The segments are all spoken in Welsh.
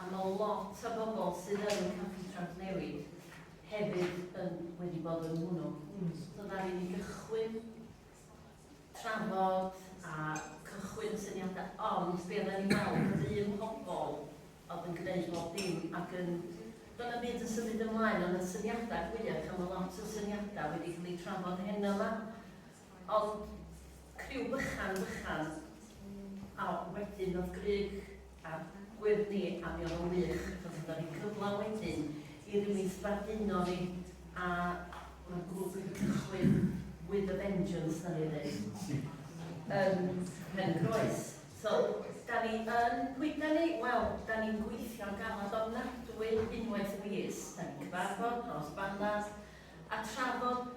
A ma lot o bobl sydd yn Campi Trawsnewid hefyd yn wedi bod yn hwnnw. So ddaru ni gychwyn trafod a cychwyn syniadau, ond be oedden ni'n weld oedd un pobl oedd yn gwneud bob dim ac yn Doedd na byd yn symud ymlaen, ond y syniadau fwyaf, a mae lot o syniadau wedi cael eu trafod heno yma, O'dd criw bychan bychan a wedyn o'dd Grug a Gwyrdd ni a mi o'dd o'n wych achos o'dd o'n roi cyfla wedyn i rywun sbarduno ni a o'dd o'n grŵp wedi cychwyn with a vengeance 'na ni ddeud yn Pen Croes. So, 'da ni yn, pwy 'da ni? Wel, 'da ni'n gweithio'n galad ofnadwy unwaith y mis, 'da ni'n cyfarfod nos Banas a trafod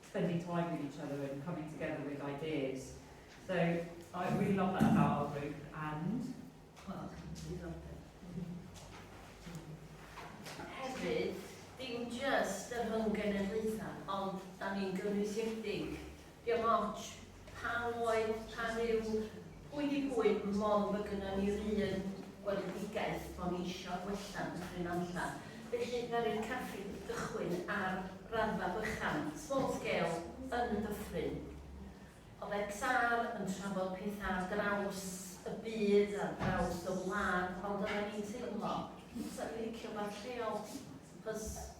spending time with each other and coming together with ideas. So I really love that about our group and well, we love it. Hefyd, dim just y rhwng genedlaethau, ond da ni'n gynwysiedig. Diolch ots. Pam oen, pam yw, pwy di pwy, mond bod gynnon ni'r un weledigaeth bo' ni isio gwella'n Dyffryn Nantlle. Felly ddaru'r caffi gychwyn ar raddfa bychan, small scale, yn y dyffryn. O'dd XR yn trafod petha ar draws y byd, ar draws y wlad, ond oddan ni'n teimlo, 'sa ni'n licio wbath lleol, 'chos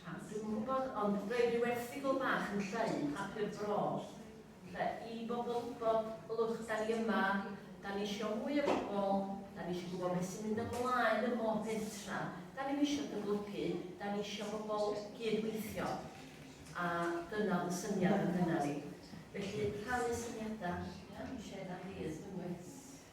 Rhan, dwi'm yn gwybod, ond roedd rhyw erthygl bach yn llai yn Papur Bro, lle i bobl wybod, ylwch, da ni yma, da ni eisiau mwy o bobl, da ni eisiau gwybod beth sy'n mynd ymlaen ym mhob pentra, da ni'n eisiau dyblygu, da ni eisiau bobl gydweithio. A dyna fy syniad yn hynna ni. Felly, rhannu syniadau, ia, i siarad am rydd, unwaith.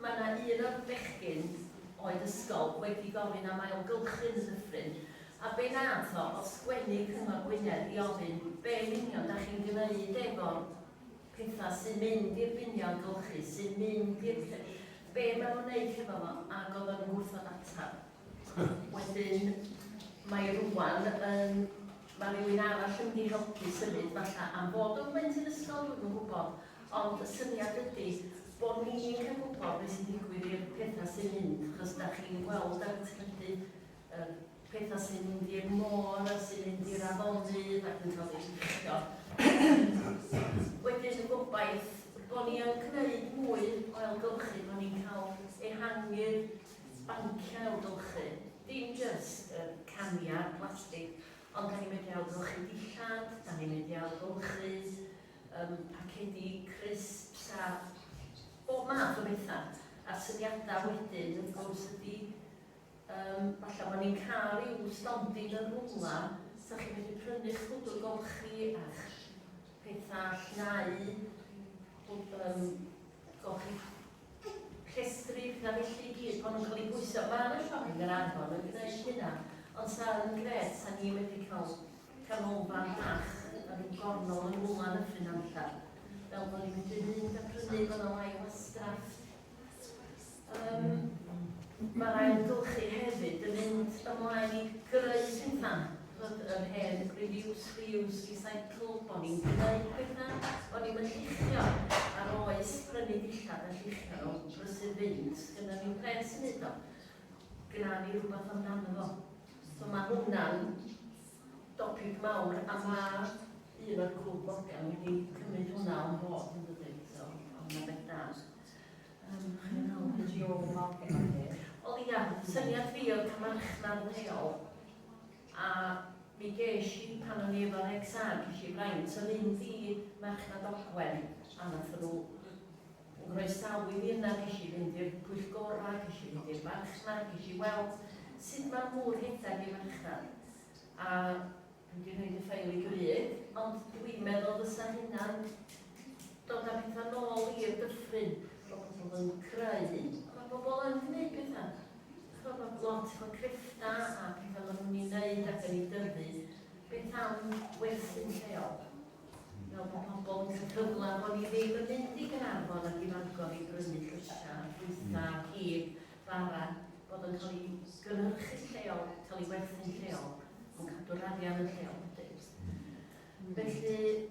Mae yna un o'r bechgyn oed ysgol wedi gofyn am ailgylchu'n y dyffryn, a be nath o odd sgwennu Cyngor Gwynedd i ofyn be yn union dach chi'n gneud efo'r petha sy'n mynd i'r biniau ailgylchu, sy'n mynd i'r lle, be ma nhw'n neud hefo fo, ag odd o'n gwrthod atab. Wedyn, mae rwan yn... mae rhywun arall yn mynd i helpu symud falle am fod o'n blentyn ysgol, dwi'n yn gwybod, ond y syniad ydy bod ni'n cael gwybod beth sy'n digwydd i'r pethau sy'n mynd, achos da chi'n gweld ar y teledu y pethau sy'n mynd i'r môr a sy'n mynd i'r afonydd ac yn cael ei llichio. Wedyn y gobaith bod ni yn gwneud mwy o elgylchu, bod ni'n cael ehangu'r banciau ailgylchu, dim jyst yr caniad plastig, ond dan ni'n medru ailgylchu dillad, dan ni'n medru ailgylchu um, pacedi, crisps a bob math o bethau. A'r syniadau wedyn, wrth gwrs, ydy um, falle bod ni'n cael i'w stondin yn rhywle, sa chi'n medru prynu'ch pwdwr golchi a'ch pethau llnau, um, golchi rhestrir na felly i gyd, maen nhw'n cael eu pwyso. Mae yna llong yn Arfon yn gwneud hynna, ond sa yn gret sa ni wedi cael canolfan fach yn rhyw gornol yn Ŵlan y Nyffryn am allan, fel bod ni'n medru mynd a prynu, mae yna lai wastraff. Um, Mae'r ailgylchu hefyd yn mynd ymlaen i greu pethau Hyd yr hen Reviews for Use Recycle bo ni'n gneud petha, bo ni'm yn lluchio, a'r oes prynu dillad a lluchio nhw, brysur fynd, sgynnon ni'm pres i neud o. Gna ni rwbath amdano fo. So ma' hwnna'n dopig mawr a ma' un o'r grŵp local wedi cymryd hwnna on board yn dydi? So ma' hwnna'n beth da. Yym chi'n meddwl bod Joe Morgan yn deg? Wel ia, syniad fi oedd ca'l marchnad leol. A mi gesh i, pan o'n i efo'r exam, gesh i fraint o fynd i Marchnad Ogwen a nath nhw nghoesawu fi yna, gesh i fynd i'r pwyllgorau, gesh i fynd i'r farchnad, gesh i weld sut ma'r mŵr rhedeg i farchnad. A dwi wedi rhaid y ffael i gyd, ond dwi'n meddwl fysa hynna'n dod â pethau nôl i'r dyffryn bod pobl yn creu, a mae pobl yn gwneud pethau. Ch'mod ma' lot o greffta a petha ma' nw'n 'i neud ac yn 'i dyfu, beth am werthu'n lleol? Fel bo' pobol yn ca'l cyfla bo' ni ddim yn mynd i Gaernarfon ac i Fangor i brynu llysia a ffrwytha a cig bara, bod o'n ca'l 'i gynhyrchu lleol, ca'l 'i werthu'n lleol, on' cadw'r arian yn lleol wedyn. Felly,